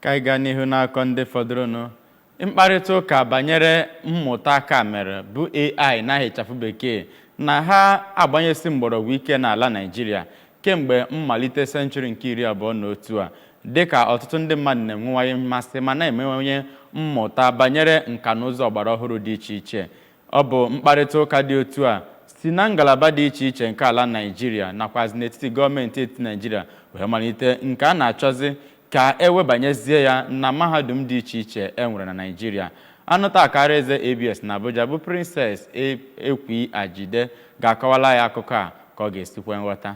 ka anyị gaa n'ihu n'akụkọ ndị fọdụrụnụ mkparịta ụka banyere mmụta aka mere bụ ai n'aha ịchafụ bekee na ha agbanyesi mgbọrọgwụ ike n'ala naijiria kemgbe mmalite senchuri nke iri abụọ na otu a dịka ọtụtụ ndị mmadụ na-enwewanye mmasị ma na-emewanye mmụta banyere nka na ụzụ ọgbara ọhụrụ dị iche iche Ọ bụ mkparịtaụka dị otu a si na ngalaba dị iche iche nke ala Naịjirịa nakwazị n'etiti gọọmenti etiti Naịjirịa wee malite nke a na-achọzị ka e webanyezie ya na mahadum dị iche iche e nwere na Naịjirịa. Onye nta akara eze ABS na Abuja bụ Princess Ekwi Ajide ga-akọwala anyị akụkọ a ka ọ ga-esi kwe nghọta.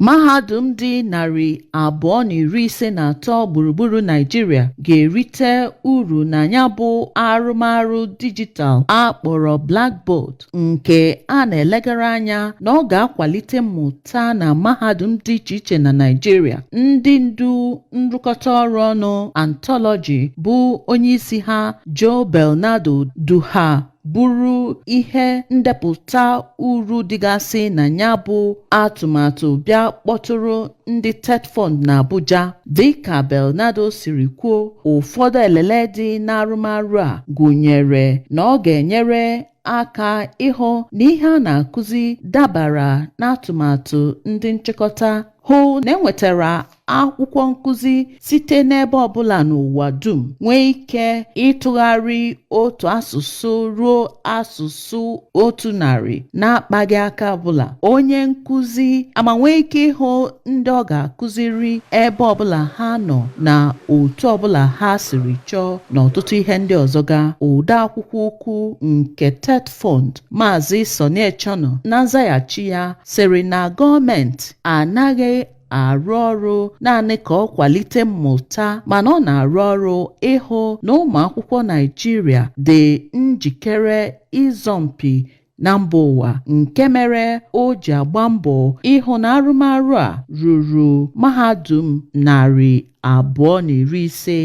mahadum dị narị abụọ na iri ise na atọ gburugburu naijiria ga-erite uru na ya bụ arụmarụ dijitalụ a kpọrọ blackboard nke a na-elegara anya na ọ ga-akwalite mmụta na mahadum dị iche iche na naijiria ndị ndu nrụkọta ọrụ ọnụ anthology bụ onyeisi ha joe belenardo du ha buru ihe ndepụta uru dịgasị na ya bụ atụmatụ bịa kpọtụrụ ndị TETFund na Abuja dịka Belenardo siri kwuo ụfọdụ elele dị n'arụmarụ a gụnyere na ọ ga-enyere aka ịhụ na ihe a na-akụzi dabara n'atụmatụ ndị nchịkọta hụ na enwetara akwụkwọ nkụzi site n'ebe ọbụla n'ụwa dum nwee ike ịtụgharị otu asụsụ ruo asụsụ otu narị na-akpaghị aka ọbụla onye nkụzi ama nwee ike ịhụ ndị ọ ga-akụziri ebe ọbụla ha nọ na otu ọbụla ha siri chọọ na ọtụtụ ihe ndị ọzọ ga ode akwụkwọ ukwu nke TETFund maazị Sonny Echono na nzaghachi ya sịrị na gọọmenti anaghị arụ ọrụ naanị ka ọ kwalite mmụta mana ọ na-arụ ọrụ ịhụ na ụmụ akwụkwọ Naịjirịa dị njikere ịzọ mpi na mba ụwa nke mere o ji agba mbọ ịhụ na arụmarụ a ruru mahadum narị abụọ na iri ise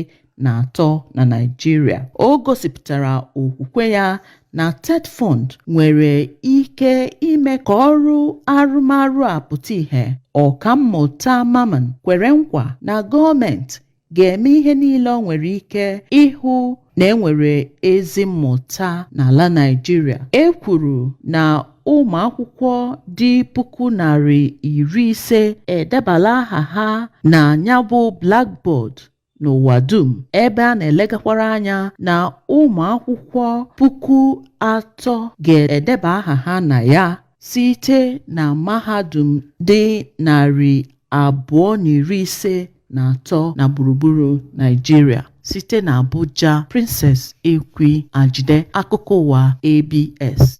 na atọ na Naịjirịa o gosipụtara okwukwe ya na TETFund nwere ike ime ka ọrụ arụmarụ a pụta ìhè Ọkammụta Mamman kwere nkwa na gọọmenti ga-eme ihe niile o nwere ike ịhụ na enwere ezi mmụta n'ala Naịjirịa e kwuru na ụmụ akwụkwọ dị puku narị iri ise edebala aha ha na ya bụ Blackboard n'ụwa dum ebe a na-elegakwara anya na ụmụ akwụkwọ puku atọ ga-edeba aha ha na ya site na mahadum dị narị abụọ na iri ise na atọ na gburugburu Naịjirịa site na Abuja Princess Ekwi Ajide akụkọ ụwa ABS